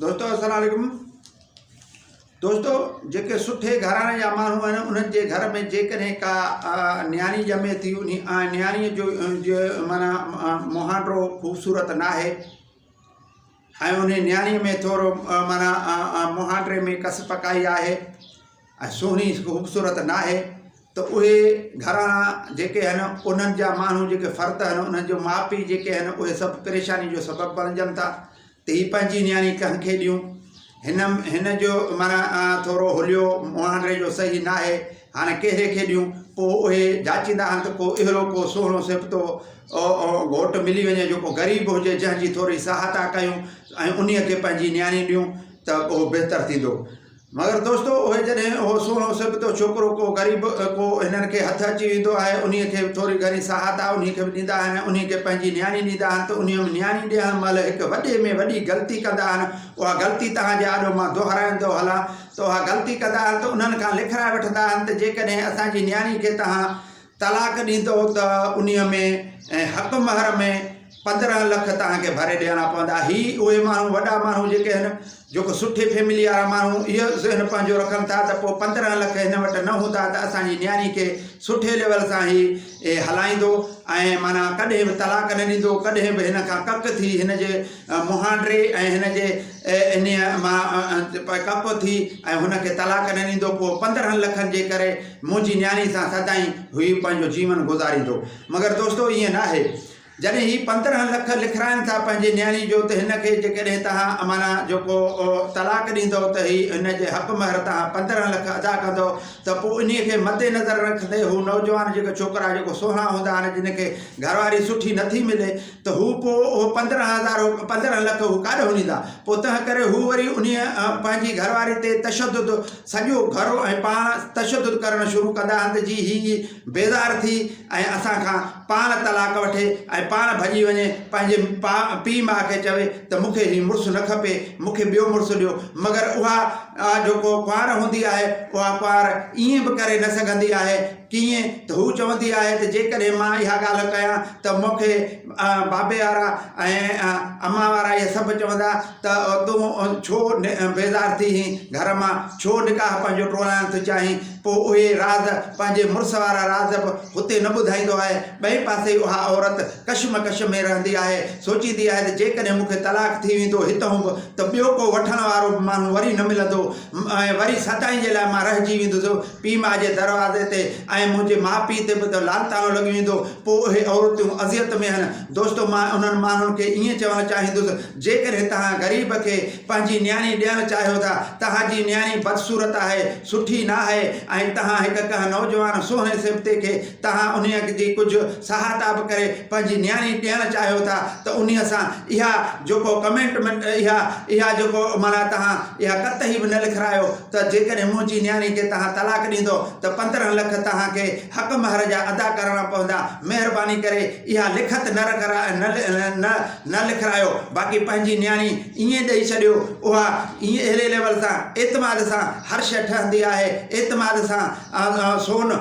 دوستو السلام عليڪم دوستو جيڪي سٺي گھراڻي جا ماڻھو آھن انھن جي گھر ۾ جيڪڏھن ڪا نياڻي ڄمي ٿي انھي نياڻي جو معنی مھانڊو خوبصورت نه آھي ۽ انھي نياڻي ۾ ٿورو معنی مھانڊي ۾ ڪس پڪائي آھي ۽ سهڻي خوبصورت ناهي ته اهي گهراڻا جيڪي آهن انهن جا ماڻهو جيڪي فرد آهن انهن جو ماء پيء جيڪي آهن اهي سڀ پريشاني جو سبب بڻجن ٿا ته هي پنهنجي نياڻي ڪنهن کي ڏيون هن هن جو معنيٰ ٿورو هليو مهانڊري جو صحيح ناهي هاڻي ڪهڙي کي ڏيون پوء اهي جاچيندا آهن ته ڪو اهڙو ڪو سهڻو سبتو گهوٽ ملي وڃي جيڪو غريب هجي جنهن جي ٿوري سهاتا ڪيون ۽ انهيء کي پنهنجي نياڻي ڏيون ته اهو بهتر ٿيندو مگر دوستو اهي جڏهن اهو سهڻو سبتو ڇوڪرو ڪو غريب ڪو هنن کي هٿ اچي ويندو آهي انهي کي به ٿوري گهڻي سهاتا انهي کي به ڏيندا آهن ۽ انهي کي پنهنجي نياڻي ڏيندا آهن ته انهي ۾ نياڻي ڏيڻ مهل هڪ وڏي ۾ وڏي غلطي ڪندا آهن اها غلطي توهان جي آڏو مان دهرائيندو هلان ته اها غلطي ڪندا آهن ته انهن کان لکرائي وٺندا آهن ته جيڪڏهن اسان جي نياڻي کي توهان طلاق ڏيندو ته انهيء ۾ ۽ حق مهر ۾ پندرهن لک توهان کي ڀري ڏيڻا پوندا. هي اهي ماڻهو وڏا ماڻهو جيڪي هن جيڪو سٺي فيمليء وارا ماڻهو اهو ذهن پنهنجو رکن ٿا ته پوء پندرهن لک هن وٽ نه هوندا ته اسان جي نياڻي کي سٺي ليول سان هي هلائيندو ۽ معنيٰ ڪڏهن به طلاق نه ڏيندو ڪڏهن به هن کان ڪڪ ٿي هن جي مهانڊري ۽ هن جي انهيء مان ڪڪ ٿي ۽ هن کي طلاق نه ڏيندو پوء پندرهن لکن جي ڪري منهنجي نياڻي سان سدائين هي پنهنجو جيون گذاريندو. مگر دوستو ائين ناهي. جڏهن هي پندرهن لک لکرائن ٿا پنهنجي نياڻي جو ته هن کي جيڪڏهن توهان امانا جو ڪو طلاق ڏيندؤ ته هي هن جي حق مهر تان پندرهن لک ادا ڪندؤ ته پوء انهي کي مد نظر رکندي هو نوجوان جيڪي ڇوڪرا جيڪو سهڻا هوندا آهن جن کي گهرواري سٺي نٿي ملي ته هو پوء اهي پندرهن هزار، پندرهن لک هو ڪاڏهون ڏيندا؟ پوء تنهن ڪري هو وري انهيء پنهنجي گهر واري تي تشدد، سڄو گهر ۽ پاڻ تشدد ڪرڻ شروع ڪندا هنڌ جي هيء بيزار ٿي ۽ اسان کان پاڻ طلاق وٺي ۽ پاڻ ڀڄي وڃي پنهنجي پيء ماء کي چوي ته مون کي هي مڙس نه کپي، مون کي ٻيو مڙس ڏيو. مگر اها جيڪو ڪنوار هوندي آهي، اها ڪنوار ائين به ڪري نه سگهندي آهي. ڪيئن ته هو چوندي آهي ته جيڪڏهن مان اها ڳالهه ڪيان ته مون کي بابي وارا ۽ امان وارا اهي سڀ چوندا ته تون ڇو بيزار ٿي هين گهر مان ڇو نڪاح پنهنجو ٽوڙائڻ ٿو چاهين پوء اهي راز پنهنجي مڙس وارا راز به هتي نه ٻڌائيندو آهي ٻئي پاسي اها عورت ڪشمڪش ۾ رهندي آهي سوچيندي آهي ته جيڪڏهن مون کي طلاق ٿي ويندو هتهون به ته ٻيو ڪو وٺڻ وارو به ماڻهو وري نه ملندو ۽ وري سدائين جي لاء مان رهجي ويندس پيء ماء جي دروازي تي ۽ منهنجي ماء پيء تي به ته لعنتاڻو لڳي ويندو پوء اهي عورتيون اذيت ۾ آهن دوستو مان انهن ماڻهن کي ائين چوڻ چاهيندس جيڪڏهن توهان غريب کي پنهنجي نياڻي ڏيڻ چاهيو ٿا توهان جي نياڻي بدصورت آهي سٺي ناهي ۽ توهان هڪ ڪنهن نوجوان سهڻي سبتي کي توهان انهيء جي ڪجهه سهائتا به ڪري پنهنجي نياڻي ڏيڻ چاهيو ٿا ته انهيء سان اها جيڪو ڪمينٽمينٽ اها اها جيڪو معنيٰ توهان اها ڪتهي به نه لکرايو ته جيڪڏهن منهنجي نياڻي کي توهان طلاق ڏيندؤ ته پندرهن لک توهان کي حق مهر جا ادا ڪرڻا پوندا مهرباني ڪري اها لکت نه نه نه لکرايو باقي پنهنجي نياڻي ائين ڏئي ڇڏيو اها اهڙي ليول سان اعتماد سان هر شيء ٺهندي آهي اعتماد سان سون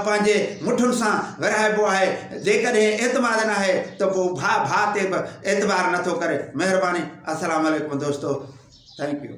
پنهنجي مٺن سان ورهائبو آهي جيڪڏهن اعتماد ناهي ته پوء ڀاء ڀاء تي به اعتبار نٿو ڪري مهرباني السلام عليڪم دوستو ٿينڪ يو